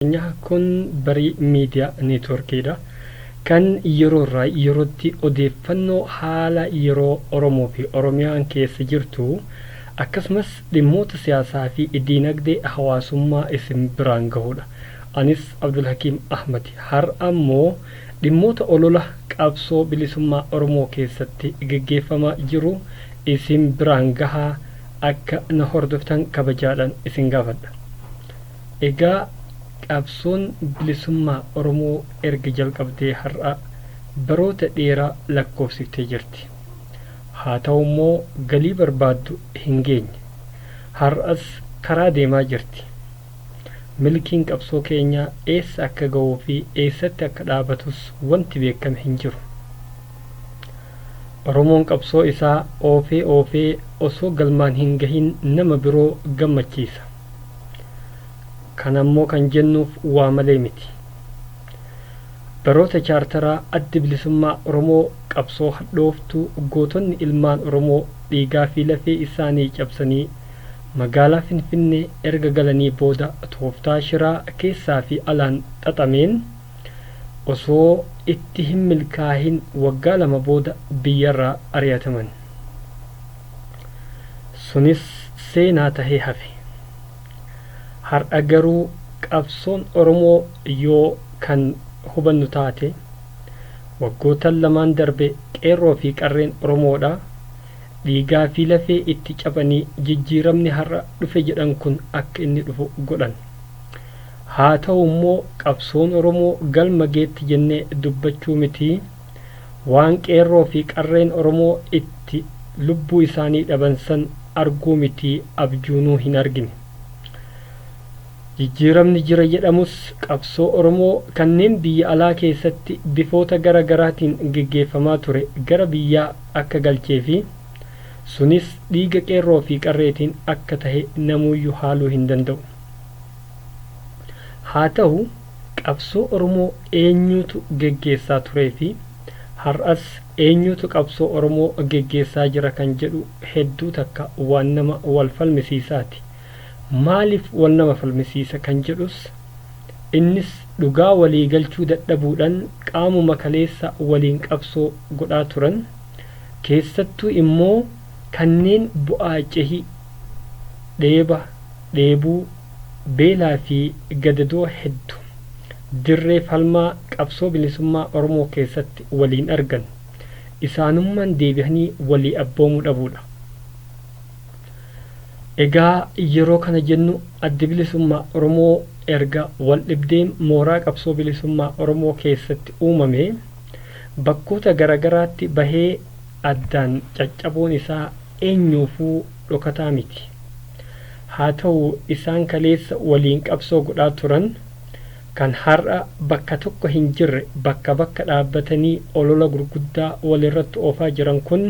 keenya kun barii miidiyaa neetworkiidha. Kan yeroo irraa yerootti odeeffannoo haala yeroo Oromoo fi Oromiyaan keessa jirtu akkasumas dhimmoota siyaasaa fi diinagdee hawaasummaa isin biraan gahudha. Anis Abdulhakiim Ahmad. Har'a immoo dhimmoota olola qabsoo bilisummaa Oromoo keessatti geggeeffamaa jiru isin biraan gahaa akka na hordoftan kabajaadhaan isin gaafadha. Egaa qabsoon bilisummaa Oromoo erga jalqabdee har'a baroota dheeraa lakkoofsiftee jirti. Haa ta'u immoo galii barbaaddu hin geenye. Har'as karaa deemaa jirti. Milkiin qabsoo keenyaa eessa akka ga'uu fi eessatti akka dhaabatus wanti beekame hin jiru. Oromoon qabsoo isaa oofee oofee osoo galmaan hin gahin nama biroo gammachiisa. Kana ammoo kan jennuuf waa malee miti. Baroota chaartaraa Addi Bilisummaa Oromoo qabsoo hadhooftuu gootonni ilmaan Oromoo dhiigaa fi lafee isaanii cabsanii magaalaa Finfinnee erga galanii booda tooftaa shiraa keessaa fi alaan xaxameen osoo itti hin milkaahin waggaa lama booda biyyarraa ari'ataman. Sunis seenaa tahee hafe. Har'a garuu qabsoon Oromoo yoo kan hubannu taate, waggootan lamaan darbe qeerroo fi qarreen Oromoodha dhiigaa fi lafee itti caphanii jijjiiramni har'a dhufe jedhan kun akka inni dhufu godhan. Haa tahu immoo qabsoon Oromoo galma geetti jennee dubbachuu mitii, Waan qeerroo fi qarreen Oromoo itti lubbuu isaanii dhaban san arguu mitii abjuunuu hin argine. Jijjiiramni jira jedhamus qabsoo Oromoo kanneen biyya alaa keessatti bifoota gara garaatiin geggeeffamaa ture gara biyyaa akka galchee fi sunis dhiiga qeerroo fi qarreetiin akka tahe namuuyyu haaluu hin danda'u. Haa tahu. Qabsoo Oromoo eenyuutu geggeessaa turee fi har'as eenyuutu qabsoo Oromoo geggeessaa jira kan jedhu hedduu takka waan nama wal falmisiisaati. Maaliif wal nama falmisiisa kan jedhus innis dhugaa walii galchuu dadhabuudhan qaamuma kaleessa waliin qabsoo godhaa turan keessattuu immoo, kanneen bu'aa cehi, dheeba, dheebuu, beelaa fi gadadoo heddu dirree falmaa qabsoo bilisummaa Oromoo keessatti waliin argan, isaanummaan deebihanii walii abboomuu dhabuu dha. Egaa yeroo kana jennu Addi Bilisummaa Oromoo erga waldhibdeen mooraa qabsoo bilisummaa Oromoo keessatti uumamee bakkoota garagaraatti bahee, addaan caccabuun isaa eenyuufuu dhokataa miti. Haa ta'u isaan kaleessa waliin qabsoo godhaa turan kan har'a bakka tokko hin jirre bakka bakka dhaabbatanii olola gurguddaa wal irratti oofaa jiran kun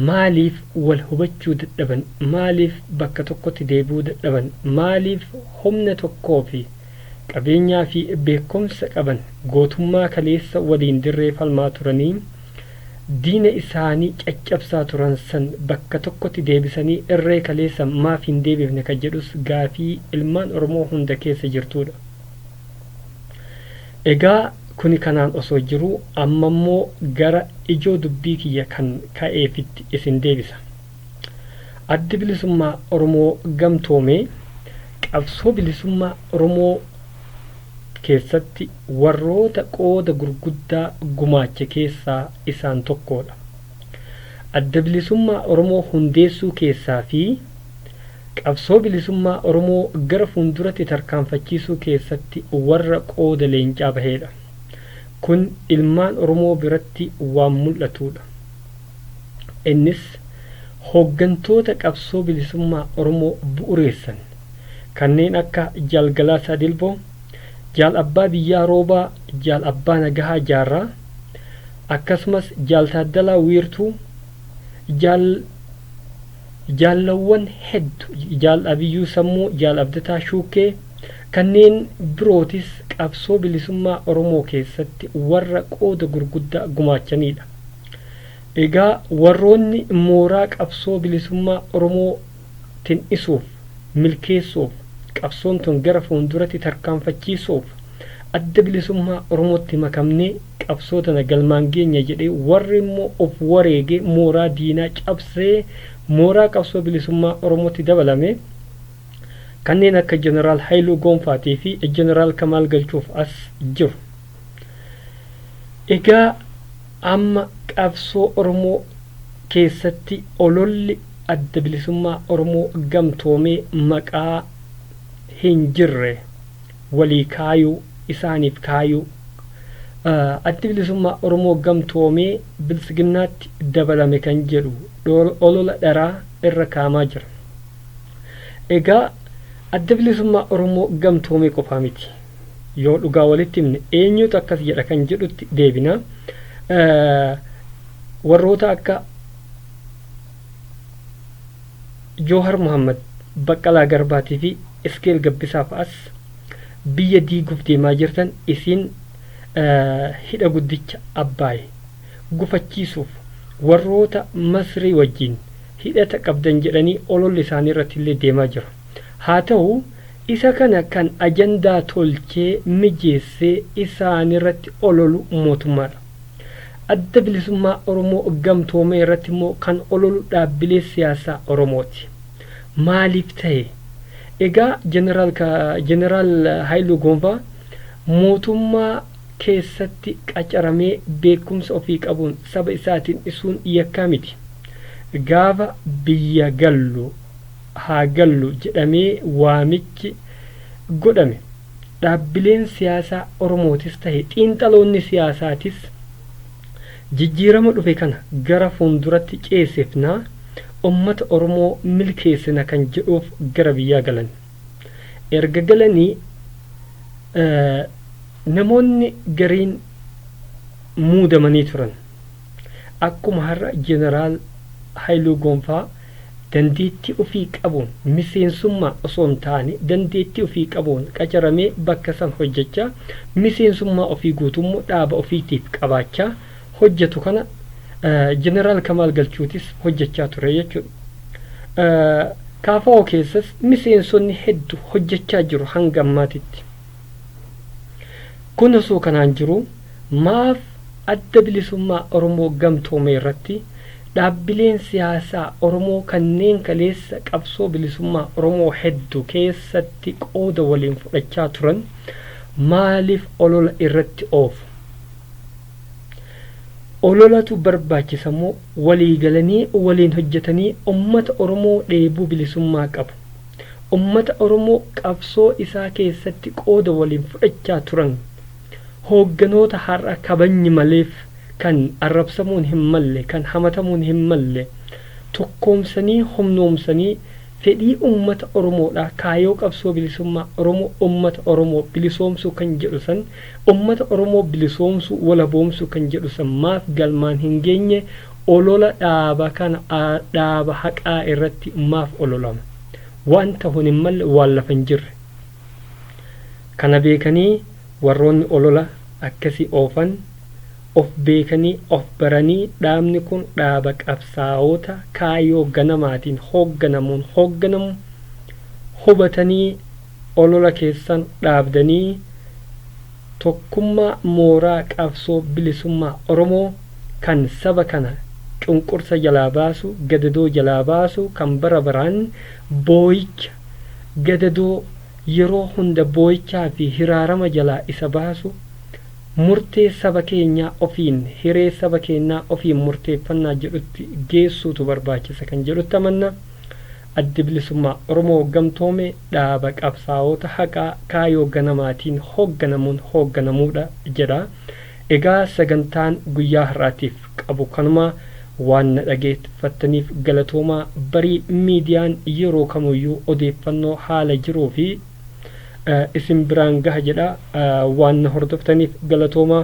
maaliif wal hubachuu dadhaban? Maaliif bakka tokkotti deebi'uu dadhaban? Maaliif humna tokkoo fi qabeenyaa fi beekumsa qaban gootummaa kaleessa waliin dirree falmaa turanii Diina isaanii caccabsaa turan san bakka tokkotti deebisanii irree kaleessa maaf hin deebifne kan jedhus gaafii ilmaan Oromoo hunda keessa jirtuudha. Egaa kuni kanaan osoo jiruu amma immoo gara ijoo dubbii kiyya kan ka'eefitti isin deebisa. Addi Bilisummaa Oromoo gamtoomee qabsoo bilisummaa Oromoo keessatti warroota qooda gurguddaa gumaache keessaa isaan tokkoodha. Adda Bilisummaa Oromoo hundeessuu keessaa fi Qabsoo Bilisummaa Oromoo gara fuulduratti tarkaanfachiisuu keessatti warra qooda leencaa baheedha. Kun ilmaan Oromoo biratti waan mul'atuudha. Innis hooggantoota qabsoo bilisummaa Oromoo bu'ureessan kanneen akka Jaal Galaasaa Dilboo, Jaal Abbaa Biyyaa Roobaa, Jaal Abbaa Nagahaa Jaarraa, akkasumas Jaal Taaddalaa Wiirtuu, Jaal Jaallawwan heddu, Jaal Abiyyuu Sammuu, Jaal Abdataa Shuukkee, kanneen birootis qabsoo bilisummaa Oromoo keessatti warra qooda gurguddaa gumaachaniidha. Egaa warroonni mooraa qabsoo bilisummaa Oromoo tin'isuuf, milkeessuuf, qabsoon tun gara fuunduratti tarkaanfachiisuuf Adda Bilisummaa Oromootti makamnee qabsoo tana galmaan geenya jedhee warri immoo of wareege mooraa diinaa cabsee mooraa qabsoo bilisummaa Oromootti dabalame kanneen akka Jeneraal Hayiluu Gonfaatii fi Jeneraal Kamaal Galchuuf as jiru. Egaa amma qabsoo Oromoo keessatti ololli Adda Bilisummaa Oromoo gamtoomee maqaa hin jirre walii kaayuu, isaaniif kaayuu, Addi Bilisummaa Oromoo gamtoomee Biltsiginnaatti dabalame kan jedhu olola dharaa irra kaamaa jira. Egaa Adda Bilisummaa Oromoo gamtoomee qofaa miti. Yoo dhugaa walitti himne eenyuutu akkas jedha kan jedhutti deebina. Warroota akka Joohar Muhammad, Baqqalaa Garbaatii fi Iskeel Gabbisaa fa'as biyya diiguuf deemaa jirtan isiin hidha guddicha Abbaay gufachiisuuf warroota Masrii wajjin hidhata qabdan jedhanii ololli isaanii irratti illee deemaa jira. Haa ta'u, isa kana kan ajandaa tolchee, mijeessee isaanirratti ololu mootummaadha. Adda Bilisummaa Oromoo gamtoome irratti immoo kan ololu dhaabbilee siyaasaa Oromooti. Maaliif ta'e? Egaa Jeneraal ka, Jeneraal Hayiluu Gonfaa mootummaa keessatti qacaramee beekumsa ofii qabuun saba isaatiin dhisuun yakkaa miti. Gaafa biyya gallu. haa gallu jedhamee waamichi godhame. Dhaabbileen siyaasaa Oromootis tahe xiinxaloonni siyaasaatis jijjiirama dhufe kana gara fuulduratti ceesifnaa ummata Oromoo milkeessina kan jedhuuf gara biyyaa galan. Erga galanii namoonni gariin muudamanii turan. Akkuma har'a Jeneraal Hayiluu Gonfaa dandeettii ofii qabuun miseensummaan osoo hin taane dandeettii ofii qabuun qacaramee bakka san hojjachaa miseensummaa ofii guutuu immoo dhaaba ofiitiif qabaachaa hojjatu kana Jeneraal Kamaal Galchuutis hojjachaa ture jechuudha. Kfo keessas miseensonni heddu hojjachaa jiru hanga ammaatitti. Kun osoo kanaan jiruu. Maaf Adda Bilisummaa Oromoo Gamtoome irratti dhaabbileen siyaasaa Oromoo kanneen kaleessa qabsoo bilisummaa Oromoo heddu keessatti qooda waliin fudhachaa turan maaliif olola irratti oofu? Ololatu barbaachisa moo walii galanii waliin hojjatanii ummata Oromoo dheebuu bilisummaa qabu, ummata Oromoo qabsoo isaa keessatti qooda waliin fudhachaa turan Hoogganoota har'a kabajni maleef kan arrabsamuun hin malle, kan hamatamuun hin malle tokkoomsanii, humnoomsanii fedhii uummata Oromoodhaa, kaayoo qabsoo bilisummaa Oromoo, uummata Oromoo bilisoomsuu kan jedhu san, uummata Oromoo bilisoomsuu, walaboomsuu kan jedhu san maaf galmaan hin geenye? Olola dhaaba kana dhaaba haqaa irratti maaf ololama? Waan tahuun hin malle, waan lafa hin jirre. Kana beekanii warroonni olola akkasii oofan of beekanii of baranii dhaabni kun dhaaba qabsaa'oota kaayoo ganamaatiin hoogganamuun hoogganamu hubatanii olola keessan dhaabdanii tokkummaa mooraa qabsoo bilisummaa Oromoo kan saba kana cunqursa jalaa baasu, gadadoo jalaa baasu, kan bara baraan booyicha gadadoo yeroo hunda boo'ichaa fi hiraarama jalaa isa baasu, murtee saba keenyaa ofiin, hiree saba keennaa ofiin murteeffannaa jedhutti geessuutu barbaachisa kan jedhutti amanna. Addi Bilisummaa Oromoo gamtoome dhaaba qabsaa'oota haqaa kaayoo ganamaatiin hoogganamuun hoogganamuudha jedha. Egaa sagantaan guyyaa har'aatiif qabu kanuma. Waan na dhageeffattaniif galatoomaa. Barii miidiyaan yeroo kamuyyuu odeeffannoo haala jiruu fi isin biraan gaha jedha. Waan na hordoftaniif galatoomaa.